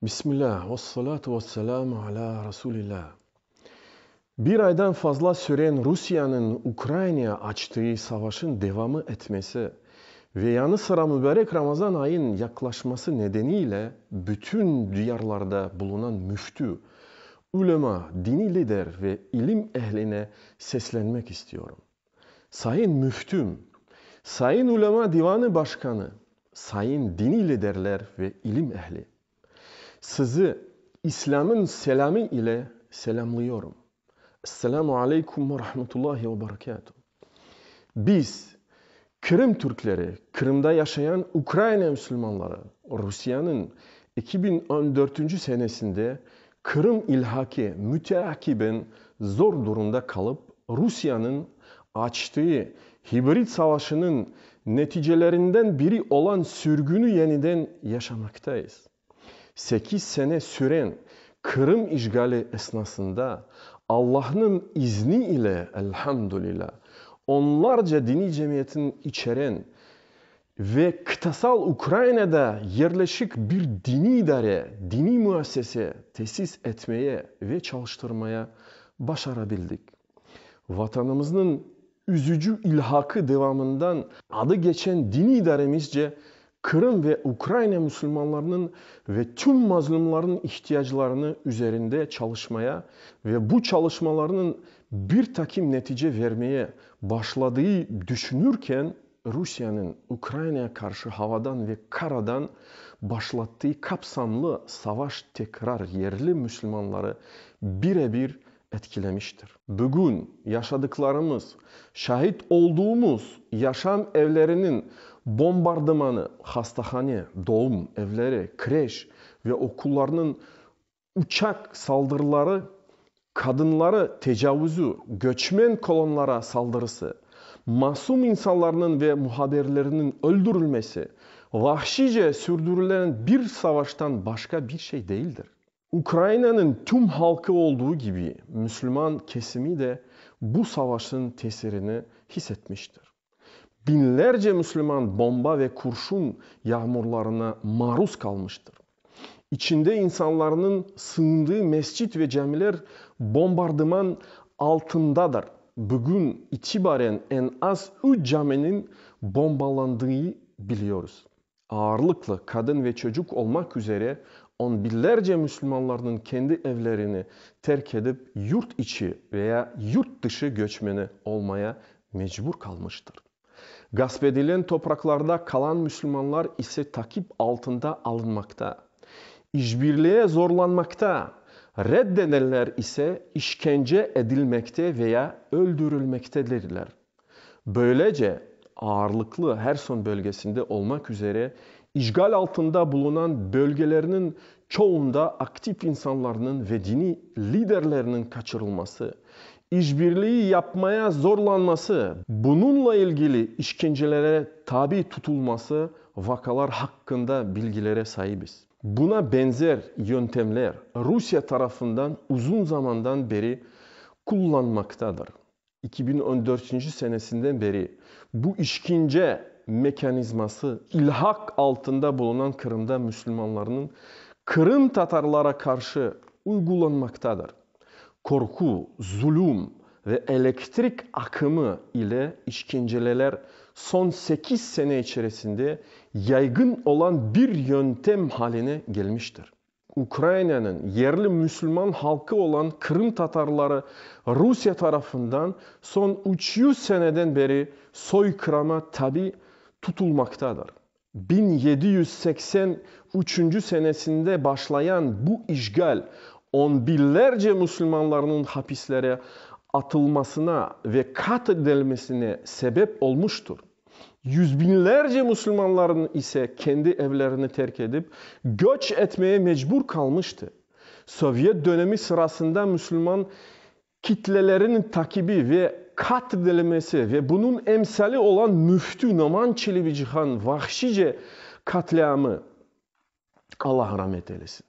Bismilâ, vessalâtu vesselâmu alâ Rasulilâ. Bir aydan fazla süren Rusiyeniñ Ukrainaya açtığı savaşıñ devamı etmesi ve yanı sıra mübarek Ramazan ayıñ yaqlaşması nedeniyle bütün diyarlarda bulunan müftü, ülema, diniy lider ve ilim ehline seslenmek istiyorum. Sayın Müftüm, Sayın Ulema Divanı Başkanı, Sayın Diniy Liderler ve İlim Ehli! Sizi İslâmın selâmı ile selâmlıyorum. Esselamu Aleykum ve Rahmetullahi ve Berekâtu! Biz, Qırım Türkleri, Qırımda yaşayan Ukraina Müslümanları, Rusiyeniñ eki biñ on dörtünci senesinde Qırım ilhaqi müteakiben zor durumda qalıp, Rusiyeniñ açtığı hibrid savaşınıñ neticelerinden biri olan sürgüni yeniden yaşamaqtayız. Sekiz sene süren Qırım işğali esnasında, Allahnıñ izni ile, elhamdülilâ, onlarca diniy cemiyetini içeren Ve qıtasal Ukrainada yerleşik bir diniy idare, diniy müessese tesis etmeye ve çalıştırmaya başarabildik. Vatanımıznıñ üzücü ilhaqı devamından adı geçen diniy idaremizce Qırım ve Ukraina musulmanlarınıñ ve tüm mazlumlarnıñ ihtiyaclarını üzerinde çalışmaya ve bu çalışmalarnıñ bir taqim netice vermeye başladığı düşünürken, Rusiyeniñ Ukrainaya qarşı havadan ve karadan başlattıy kapsamlı savaş tekrar yerli müslümanları bire-bir etkilemiştir. Bugün yaşadıqlarımız, şahit olduğumuz yaşam evleriniñ bombardımanı, hastahane, doğum evleri, kreş ve okullarnıñ Uçaq saldırıları, qadınları tecavuzü, göçmen kolonlara saldırısı, masum insanlarnıñ ve muhabirlerniñ öldürilmesi, vahşice sürdürilen bir savaştan başqa bir şey değildir. Ukrainanıñ tüm halqı olduğu kibi, müslüman kesimi de bu savaşıñ tesirini his etmiştir. Biñlerce müslüman bomba ve kurşun yağmurlarına maruz qalmıştır. İçinde insanlarnıñ sığındığı mescit ve camiler bombardıman altındadır. Bugün itibaren en az üç caminiñ bombalandığı biliyoruz. Ağırlıqlı qadın ve çocuq olmaq üzere on binlerce müslümanlarnıñ kendi evlerini terk edip yurt içi ve ya yurt dışı göçmeni olmaya mecbur qalmıştır. Gasp edilen topraqlarda qalan müslümanlar ise taqip altında alınmaqta, işbirliğe zorlanmaqta, reddedenler ise işkence edilmekte ve ya öldürilmektedirler. Böylece, ağırlıqlı Herson bölgesinde olmak üzere işğal altında bulunan bölgelerniñ çoğunda aktiv insanlarnıñ ve diniy liderlerniñ qaçırılması, işbirliği yapmaya zorlanması, bununla ilgili işkencelere tabi tutulması vakalar haqqında bilgilere saibiz. Buna benzer yöntemler Rusiye tarafından uzun zamandan beri qullanmaqtadır, Eki biñ on dörtünci senesinden beri bu işkence mekanizması ilhaq altında bulunan Qırımda müslümanlarnıñ qırımtatarlara qarşı uygulanmaqtadır. Qorqu, zulüm ve elektrik aqımı ile işkenceleler soñ sekiz sene içerisinde yaygın olan bir yöntem haline gelmiştir. Ukrainanıñ yerli müsülman halqı olan Qırım tatarları Rusiye tarafından soñ üç yüz seneden beri soyqırama tabi tutulmaqtadır. Biñ yedi yüz seksen üçünci senesinde başlayan bu işğal on biñlerce müsülmanlarnıñ hapislere atılmasına ve qatledilmesine sebep olmuştır. Yüzbiñlerce musulmanlarnıñ ise kendi evlerini terk edip, göç etmeye mecbur qalmıştı. Sovyet dönemi sırasında musulman kitleleriniñ takibi ve qatl edilemesi ve bunıñ emsali olan müftü Noman Çelebicihan vahşice qatliamı, Allah ramet eylesin.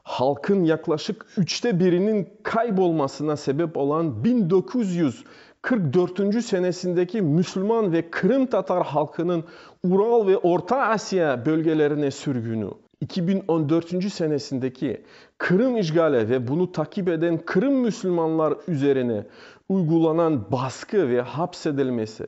Halqın yaqlaşıq üçte biriniñ kayb olmasına sebep olan biñ dokuz yüz qırq dörtünci senesindeki müslüman ve qırımtatar halqınıñ Ural ve Orta Asiya bölgelerine sürgünü, iki biñ on dörtünci senesindeki Qırım işgali ve bunı taqip eden Qırım müslümanlar üzerine uygulanan basqı ve hapsedilmesi,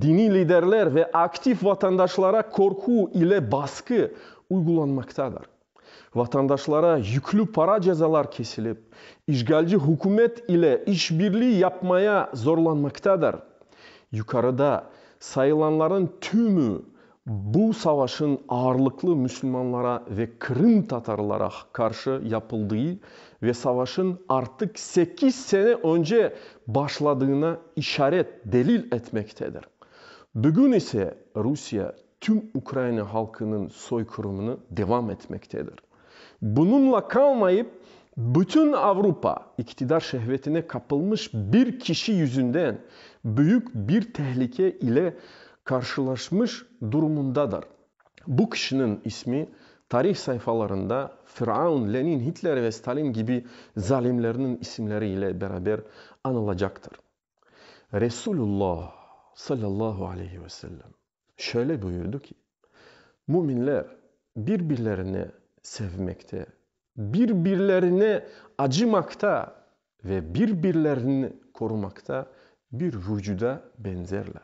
Diniy liderler ve aktiv vatandaşlara qorqu ile basqı uyğulanmaqtadır. Vatandaşlara yüklü para cezalar kesilip, işğalci hükümet ile işbirliği yapmaya zorlanmaqtadır. Yuqarıda sayılanların tümü Bu savaşıñ ağırlıqlı müsülmanlara ve Qırım tatarlara qarşı yapıldığı ve savaşıñ artıq sekiz sene önce başladığına işaret, delil etmektedir. Bugün ise Rusiye tüm Ukraina halqınıñ soyqırımını devam etmektedir. Bununla qalmayıp, bütün Avrupa iqtidar şehvetine qapılmış bir kişi yüzünden büyük bir tehlike ile qarşılaşmış durumındadır. Bu kişiniñ ismi tarih sayfalarında Firaun, Lenin, Hitler ve Stalin kibi zalimlerniñ isimleri ile beraber anılacaqtır. Resulullah, sallallahu aleyhi ve sellem, şöyle buyurdı ki, Müminler bir-birlerine sevmekte, bir-birlerine acımaqta ve bir-birlerini qorumaqta bir vucuda benzerler.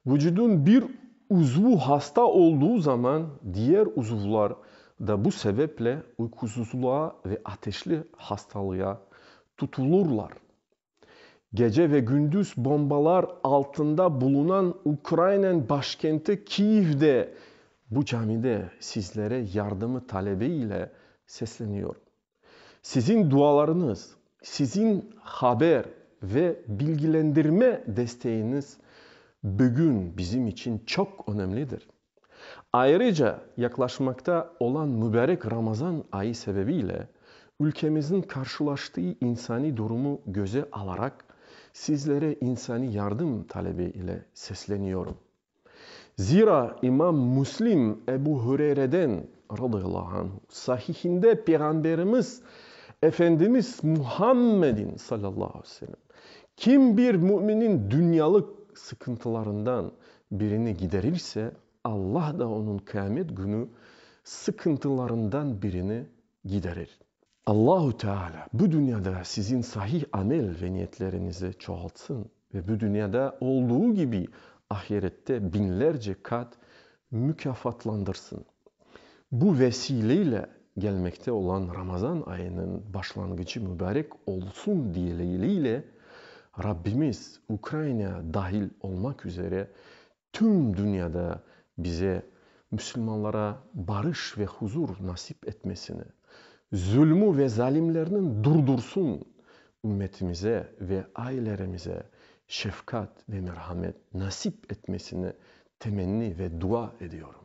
Vucudun bir uzvu hasta olduğu zaman diyer uzuvlar da bu sebeple uyqusuzluğa ve ateşli hastalığa tutulurlar. Gece ve gündüz bombalar altında bulunan Ukraynen başkenti Kiyevde bu camide sizlere yardımı talebi ile sesleniyorum. Sizin dualarıñız, sizin haber ve bilgilendirme desteğiñiz bugün bizim içün çoq önemlidir. Ayrıca, yaqlaşmaqta olan mübarek Ramazan ayı sebebiyle ülkemizniñ qarşılaştığı insaniy durumu göze alaraq, sizlere insaniy yardım talebi ile sesleniyorum. Zira İmam Müslim Ebu Hüreyreden, radıyallahu anhu, Sahihinde Peyğamberimiz Efendimiz Muhammedin, sallallahu aleyhi ve sellem, kim bir müminiñ dünyalıq sıqıntılarından Birini giderirse, Alla da onıñ Qıamet künü sıqıntılarından birini giderir. Allahu Teala bu dünyada siziñ sahih amel ve niyetleriñizi çoğaltsın ve bu dünyada olduğu kibi ahirette biñlerce qat mukâfatlandırsın. Bu vesileyle gelmekte olan Ramazan ayınıñ başlanğıcı mübarek olsun dileğiyle, Rabbimiz Ukraina dahil olmaq üzere tüm dünyada bize, müsülmanlara, barış ve huzur nasip etmesini, zulmü ve zalimlerni durdursın, ümmetimize ve aileremize şefqat ve merhamet nasip etmesini temenni ve dua ediyorum.